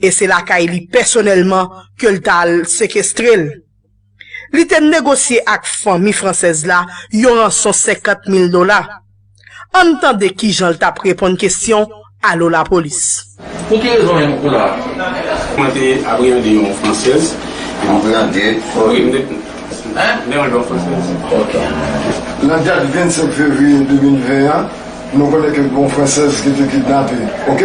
e se lakay li pèsonèlman ke l ta al sekestre l. Li te negosye ak fanmi fransèz la yon ranson 50 mil dola. Ann tande kijan l t ap reponn kesyon Alo Lapolis. Pou ki rezon menm kou la a? Mwen te abreyande yon fransèz. Abreyande? Wi, m te abreyande yon fransèz. Ok. Nan dat 25 fevriye 2020 an, nou konnen ke gen yon fransèz ki te kidnape. Ok?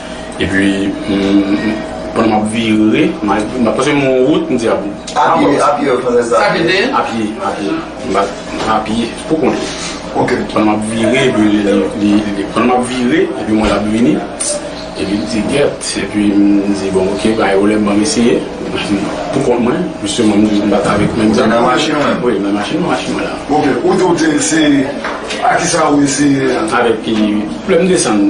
Epi pandan m ap vire, paske m wè yon wout, m di a bon. Apye ou fè sa? Apye, apye. M bat apye pou kont li. Ok. Pandan m ap vire, pandan m ap vire, epi m wè l ap vini, epi m di gèt, epi m di bon ok, bay ou lè ban m eseye, pou kont mwen, pwiske mwen menm m bat avèk menm zam. Nan machin ou menm? Wi, nan machin mwen la. Ok. Ou di ou te eseye, a kisa ou eseye a? Avèk, lè m desann.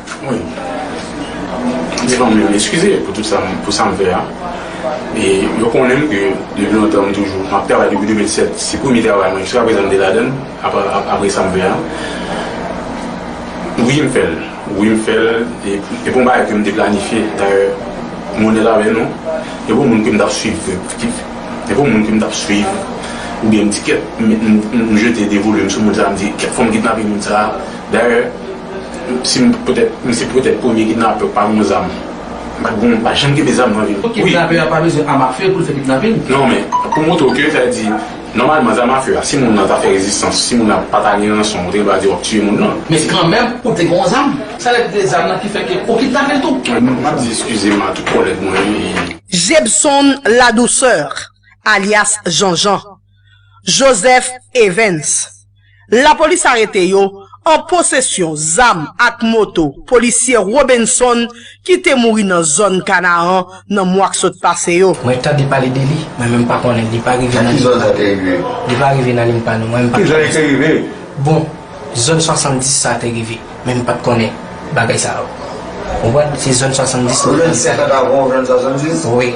Wi. Di fanmi yo eskize pou tout sa pou sa m fè a. E yo konnen m ke depi lontan m toujou m ap travay depi 2007. Se premye travay mwen jiska prezan m te ladan l apre sa m fè a. Wi m fè l. Wi m fè l. E pou m bay ke m te planifye dayè m onèt avè nou. E pou moun ke m t ap swiv ki e pou moun ke m t ap swiv oubyen m di kèk m jete de volum sou moun sa m di kèk fwa m kidnape moun sa. Dayè. Si m petèt m se petèt premye kidnapè ou pa gon zam m pat gon m pa janm kenbe zam nan vim wi. Kidnapè a pa bezwen am afe pou l fè kidnapin. Non men pou montre w ke sa vle di nòmalman zam afe a si moun nan ta fè rezistans si moun nan pa ta gen ranson ou te gen dwa di w ap tiye moun nan. Men kanmenm ou te gon zam. Sa lè li te gen zam nan ki fè ke ou kidnape l tou. M ap di eskize m a tout kòlèg mwen wi. Jebson Ladouceur alyas Janjan. Joseph Evens. Lapolis arete yo an posesyon zam ak moto polisye Robenson ki te mouri nan zòn Kanaan nan mwa k sot pase yo. Mwen tande pale de li, mwen menm pa konnen, li pa rive nan limpa nou. Nan ki zòn sa te rive? Li pa rive nan limpa nou, mwen menm pa konnen. Ki zòn li te rive? Bon, zòn 70 sa te rive, men m pat konnen bagay sa yo. Ou konprann? Se zòn 70 la. Ou jwenn 50 avan ou jwenn 70? Wi.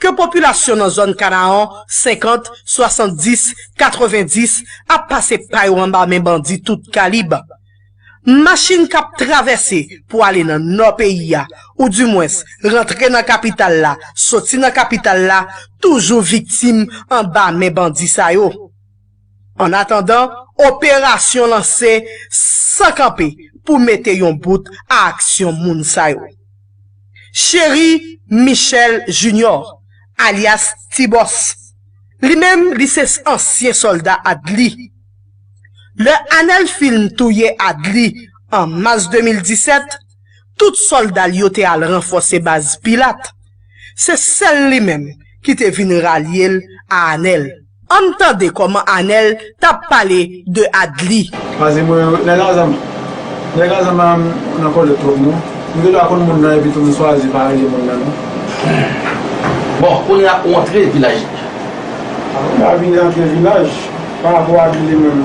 ke popilasyon nan zòn Kanaan 50, 70, 90 ap pase pa yo anba men bandi tout kalib. Machin k ap travèse pou ale nan nò peyi a, ou di mwens rantre nan kapital la, soti nan kapital la, toujou viktim anba men bandi sa yo. An atandan, operasyon lanse san kanpe pou mete yon bout a aksyon moun sa yo. Chery Michel Junior, alyas Tibòs, li menm li se ansyen sòlda Adly. Lè Anèl Film touye Adly an mas 2017, Tout sòlda l yo te al ranfòse baz Pilat. Se sèl li menm ki te vin ralye l a Anèl. Ann tande kòman Anèl t ap pale de Adli. Pase mwen wè nèg Azam la. Nèg Azam la nan kòlèt twòp non. Nou gen dwa konn moun nan epitou nou chwazi pa rele moun nan non. Humm. Bon, kounye a ou antre vilaj. Mwen pa vin antre vilaj. Parapò Adli li menm.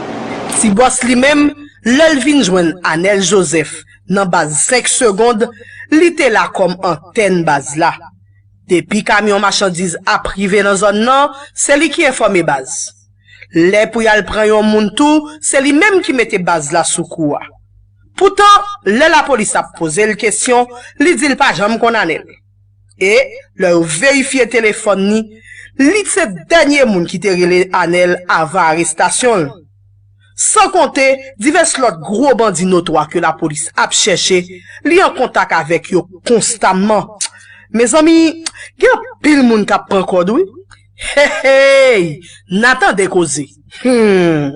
Ti bòs li menm, lè l vin jwenn Anèl Jozèf nan baz 5 segond, li te la kòm antèn baz la. Depi kamyon machandiz ap rive nan zòn nan, se li ki enfòme baz. Lè pou y al pran yon moun tou, se li menm ki mete baz la sou kou a. Poutan, lè lapolis ap poze l kesyon, li di l pa janm konn Anèl. e lè yo verifye telefòn li, li t se dènye moun ki te rele Anel avan arestasyon l. San konte divès lòt gwo bandi notwa ke lapolis ap chèche, li an kontak avèk yo konstamman. Mezanmi, gen anpil moun k ap pran kòd wi. Heyy! N a tande koze! Humm!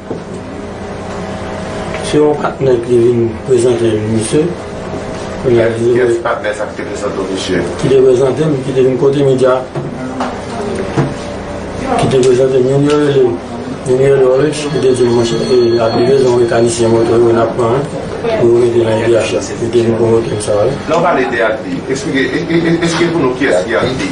Se yon patnè ki te vin prezante m misye. Kiyès patnè sa ki te prezante w misye? Ki te prezante m, ki te vin kote m Indya. Ki te prezante m youn yo rele, youn yo rele Orex, li te di m monchè e api rezon mekanisyen moto yo n ap pran an pou yo mete l an Indya. Li te vin pwomote m sa wi. Lè w pale de Advi, esplike pou nou kiyès ki Advi?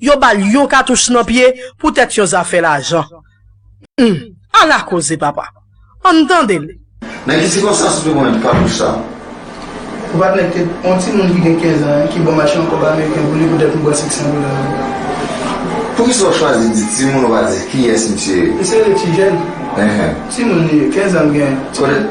yo ba l yon katouch nan pye poutèt yon zafè lajan. Hum! Ala koze papa! An n tande l. Nan ki sikonstans ou te konn jwenn katouch sa a? Ou pa konnen petèt yon timoun ki gen kenzan an ki ba w mache yon kòb ameriken pou li poutèt m bwè seksan dola nan men l? Poukisa ou chwazi di timoun ou pa di kiyès misye ye? Misye rele tijèn. Timoun li ye, kenzan l genyen.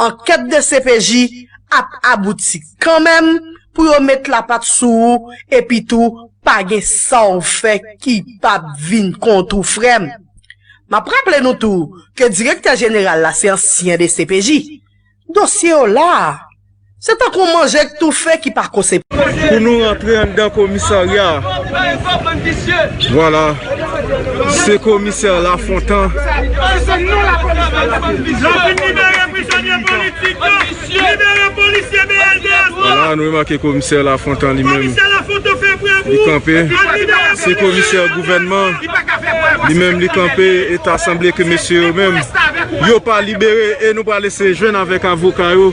ankèt dcpj ap abouti kanmenm pou yo met lapat sou ou epitou pa gen sa w fè ki pap vin kont ou frè m. M ap raple nou tou ke direktè jeneral la se ansyen dcpj. Dosye yo la a. Se tankou yon manje k toufe ki pa kose. Pou nou rantre anndan komisarya a. Vwala, se komisè Lafontan. Vwala, nou remake komisè Lafontan li menm. Li kanpe. Se komisè gouvènman. Li menm li kanpe. E ta sanble ke mesye yo menm. Yo pa libere. E nou pa lese jwenn avèk avoka yo.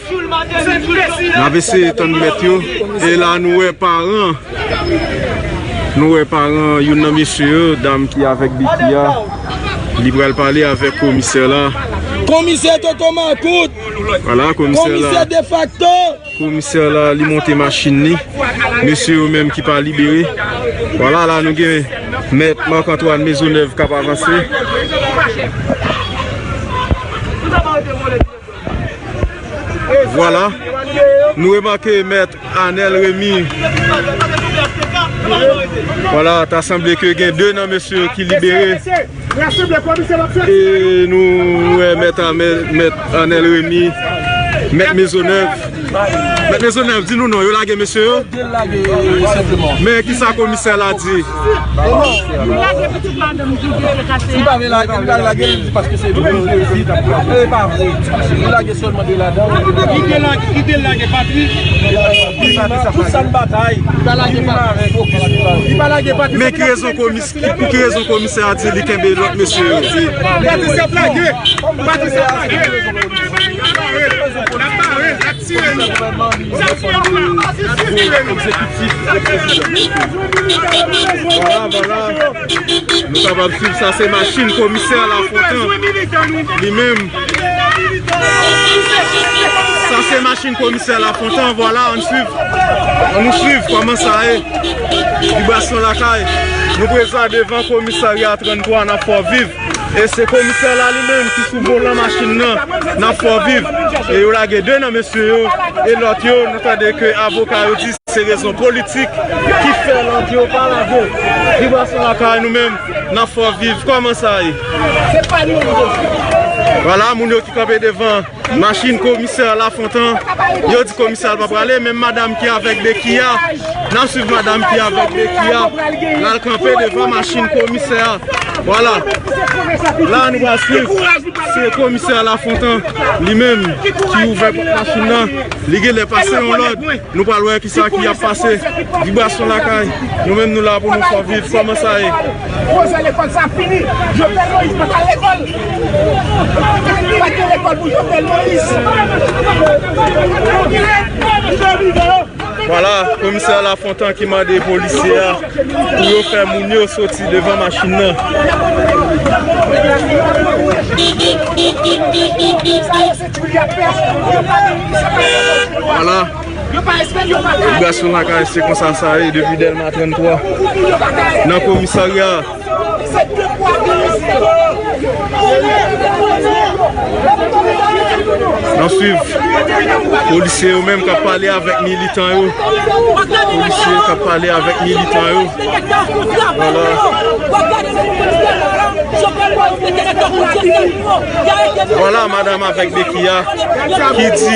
Nap eseye tann mèt yo E la nou wè paran Nou wè paran yon nan mesye yo Dam ki avèk biki a Li pral pale avèk komisè la Komisè toto makout Komisè defakto Komisè la li monte machin ni Mesye yo menm ki pa libere Wala la nou gen Mèt Marc Antoine Maisonneuf kap avanse Vwala, nou remake mèt Anel Remy. Vwala, ta sanble ke gen 2 nan mesye yo ki libere. E nou wè mèt Anel Remy, mèt Mezonèv. Mèt Maisonneuve di nou non yo lage mesye yo? Men ki sa komisè la di? Men ki rezon komisè? Pou ki rezon komisè a di li kenbe lòt mesye yo? Patricia plage! Patricia plage! Lap mare, lap tire nou! Lap tire nou la! Lap tire nou! Vwala, vwala! Nou kapab swiv sa se machin komisè la fontan li menm. Sa se machin komisè la fontan vwala an swiv. An nou swiv kòman sa ye. Vibration Lakay, Nou prezan devan komisarya 33 nan Fò Viv e se komisè la li menm ki sou volan machin nan nan Fò Viv e yo lage 2 nan mesye yo e lòt yo nou tande ke avoka yo di se rezon politik ki fè lòt yo pa lage Vibration Lakay nou menm nan Fò Viv kòman sa ye? Vwala moun yo ki kanpe devan. Machin komisè Lafontan, yo di komisè al pa prale, menm madam ki avèk beki a, nan swiv madam ki avèk beki a, lal kanpe devan machin komisè a, wala, la nou pral swiv, se komisè Lafontan, li menm, ki ouvè pot machin nan, li gen lè pase yon lòd, nou pral wè kisa ki ap pase, vibrasyon lakay, nou menm nou la pou nou sòviv, kòman sa ye. Vwala komisè Lafontan ki mande polisye a pou yo fè moun yo soti devan machin nan. Vwala operasyon lakay se konsa sa ye depi dèlma 33 nan komisarya. Se de pwa de mezi pou yo. Nap swiv polisye yo menm kap pale avèk militan yo. Polisye kap pale avèk militan yo. Vwala madam avèk beki a ki di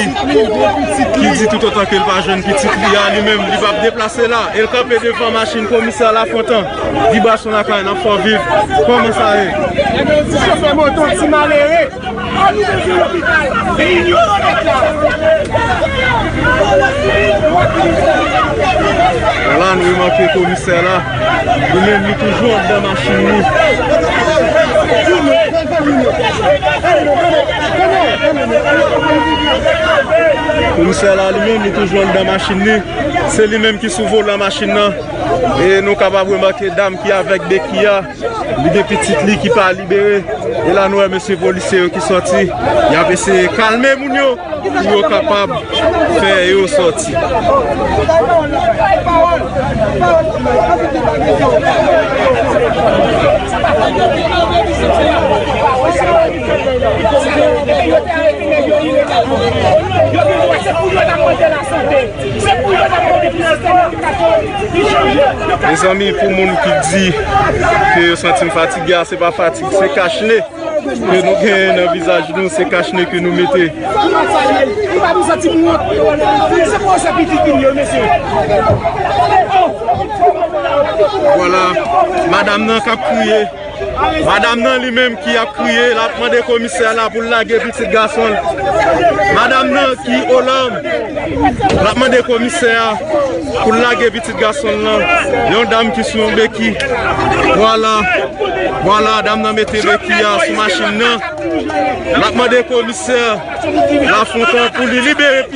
ki di toutotan ke l pa jwenn pitit li a li menm li pap deplase la el kanpe devan machin komisè Lafontan. Vibration lakay nan fò viv Kòman sa ye? Gen yon ti chofè moto ti malere An nou bezwen lopital Se inyoran nèt la Wòla nou remake komisè la Li menm li toujou andan machin li Komisè la li menm li toujou andan machin li Se li menm ki sou volan machin nan E nou kapab remake dam ki avèk beki a, li gen pitit li ki pa libere. E la nou wè mesye polisye yo ki sòti, y ap eseye kalme moun yo pou yo kapab fè yo sòti. Mezanmi pou moun ki di ke yo santi m fatige a se pa fatig se kach ne ke nou gen nan vizaj nou se kach ne ke nou mete. Vwala madam nan kap kriye. Madam nan li menm ki ap kriye lap mande komisè la pou l lage pitit gason l. Madam nan ki o làm lap mande komisè a pou l lage pitit gason l lan. Yon dam ki sou yon beki. Vwala, vwala dam nan mete beki a sou machin nan. Lap mande komisè la fon tan pou li libere pitit.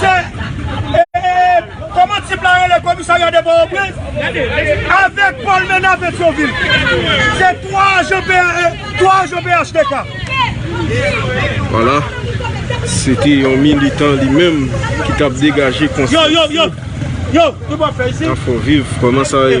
Se eeeeep koman tip la rele komisarya de pòtoprens avèk pòl mena petyonvil se 3 ajan pnh 3 ajan phtk. Wala se te yon militan li menm ki t ap degaje konsyans li nan fò viv kòman sa ye.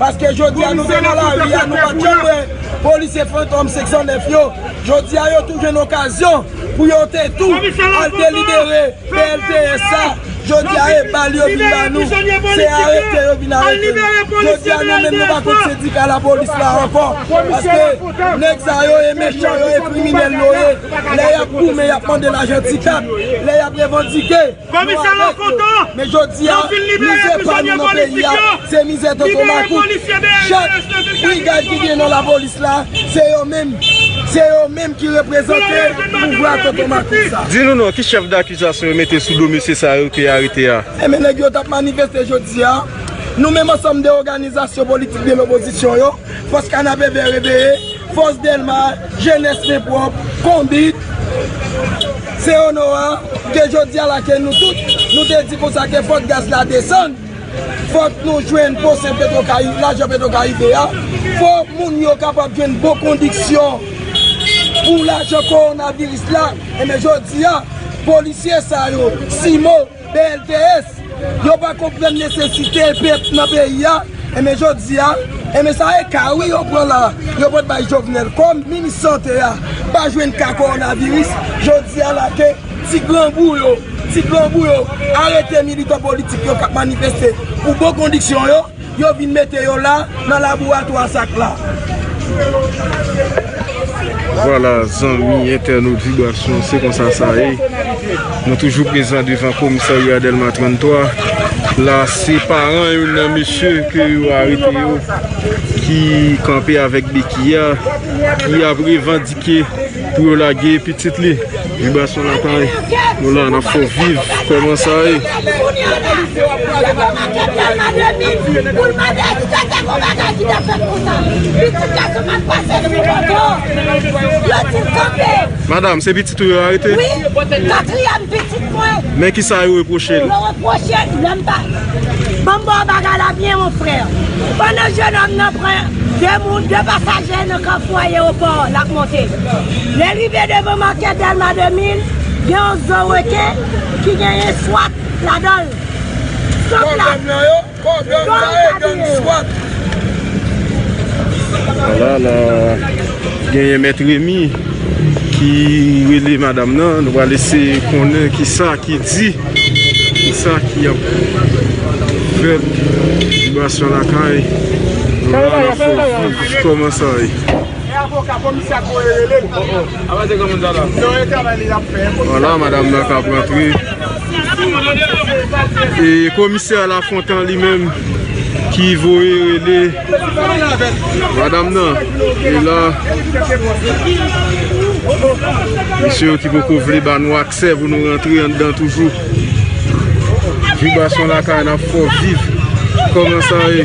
Paske jodi a nou te nan lari a, nou pa t janm wè polisye fantom 509 yo. Jodi a yo tou jwenn okazyon pou yo te tou al delibere PLTS sa. Jodi a e bal yo vin ba nou, se arete yo vin arete nou. Jodi a nou menm nou pa kont sendika lapolis la ankò. Paske nèg sa yo e mechan, yo e kriminèl yo ye. Lè y ap goumen, y ap mande lajan ti kat, lè y ap revandike. Komisè lan kontan nan fin libere prizonye politik yo, libere polisye BNDH nan te chaje nan zon Mako a. Selon renseyman nou jwenn nan plis piti. Di nou non, ki chèf dakizasyon yo mete sou do mesye sa yo ke arete a? Enben nèg yo tap manifeste jodi a, nou menm ansanm de oganizasyon politik de lopozisyon yo. Fòs Kanapè Vè reveye, Fòs Dèlma, Jenès Men Pwòp, Konbit, se Onowa ke jodi a la ke nou tout nou te di konsa ke fòk gaz la desann, fòk nou jwenn pwosè Petrokaribe, lajan Petrokaribe a, fòk moun yo kapab jwenn bon kondiksyon pou lajan kowonaviris la, enben jodi a polisye sa yo, CIMO. BLTS, yo pa konprann nesesite pèp nan peyi a, enben jodi a, enben sa e ka wi yo pran la, yo pot bay Jovenel, kòm minis sante a pa jwenn ka kowonaviris, jodi a la ke ti grangou yo, ti grangou yo arete militan politik yo kap manifeste pou bon kondiksyon yo. Yo vin mete yo la nan laboratwa sak la. Vwala zanmi entènot Vibration se konsa sa ye Nou toujou prezan devan komisarya Delma 33 La se paran yon nan mesye ke yo arete yo Ki kanpe avèk beki a Ki ap revandike Pou yo lage pitit li. Vibrasyon lakay Nou la nap fè w viv Koman sa ye. Madam se pitit ou yo arete. Men ki sa yo repwoche l. Yo repwoche l lè m pa. Ban m ba w bagay la byen mon frè. Pandan jenòm nan pran 2 moun, 2 pasaje nan kafou ayewopò l ap monte. Lè l rive devan makè Dèlma 2000, gen yon zo reken ki genyen swat ladan l. Swat la. Kò gang sa e gang swat. Ala la genyen mèt remi ki rele madam nan nou pral eseye konnen kisa ki di kisa ki ap fèt vibration lakay nou la nap fè w viv kòman sa ye. Ala madam nan kap rantre. E komisè Lafontan li menm ki voye rele madam nan e la Mesye yo ki poko vle ba nou aksè pou nou rantre anndan toujou Vibrasyon lakay nan fò viv Kòman sa ye?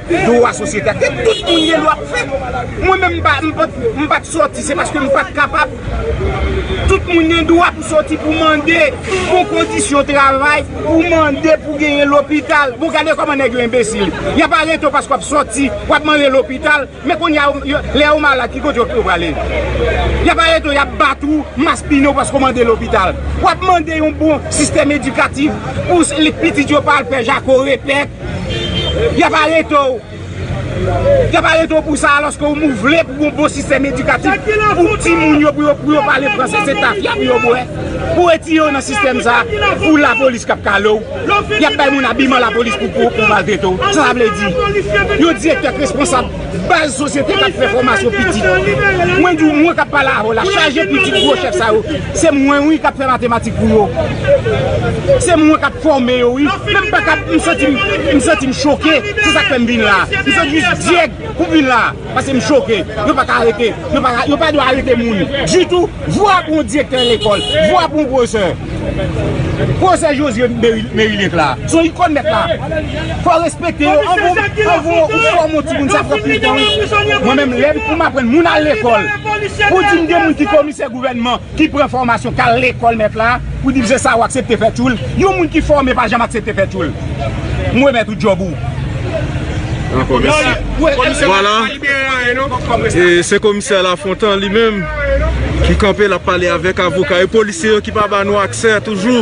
Dwa sosyete a ke tout moun gen dwa pou fè. Mwen menm m pa, m pa, m pa t sòti se paske m pa t kapab. Tout moun gen dwa pou sòti pou mande bon kondisyon travay, pou mande pou genyen lopital. Bon gade kòman nèg yo enbesil. Y ap arete w paske w ap sòti, w ap mande lopital. Men kounye a yo, lè yo malad ki kote yo prale? Y ap arete w, y ap bat ou, maspinen w paske w mande lopital. W ap mande yon bon sistèm edikatif pou pitit yo pa al fè jako repèt. Y ap arete w. Y ap arete w pou sa alòske ou vle pou yon bon sistèm edikatif pou timoun yo pou yo pale franse se tafya pou yo bwè. Pou retire w nan sistèm sa a pou lapolis k ap kale w. Y ap bay moun abiman lapolis pou maltrete w. Sa sa vle di? Yon direktè k responsab. Baz sosyete kap fè fòmasyon pitit. Mwen di w mwen kap pale avè w la chaje pitit gwo chèf sa yo se mwen wi kap fè matematik pou yo. Se mwen kap fòme yo wi. Menm pa kap m santi m m santi m choke se sak fè m vin la. M santi m jis dyèg pou m vin la paske m choke. Yo pa ka arete yo pa ka yo pa dwe arete moun ditou. Vwa pou yon direktè lekòl vwa pou yon pwofesè. Profesè Josue Merilink la se yon ikon nèt la fò respekte yo anvan ou fòme yon timoun sa pran plis tan wi mwen menm lè pou m aprann moun al lekòl pou di m gen moun ki komisè gouvènman ki pran fòmasyon k al lekòl nèt la pou di m se sa ou aksepte fè tchoul yon moun ki fòme pa janm aksepte fè tchoul m remèt ou djòb ou. Dako mèsi. Vwala se komisè Lafontan li menm. Ki kanpe lap pale avèk avoka yo polisye yo ki pa ba nou aksè toujou.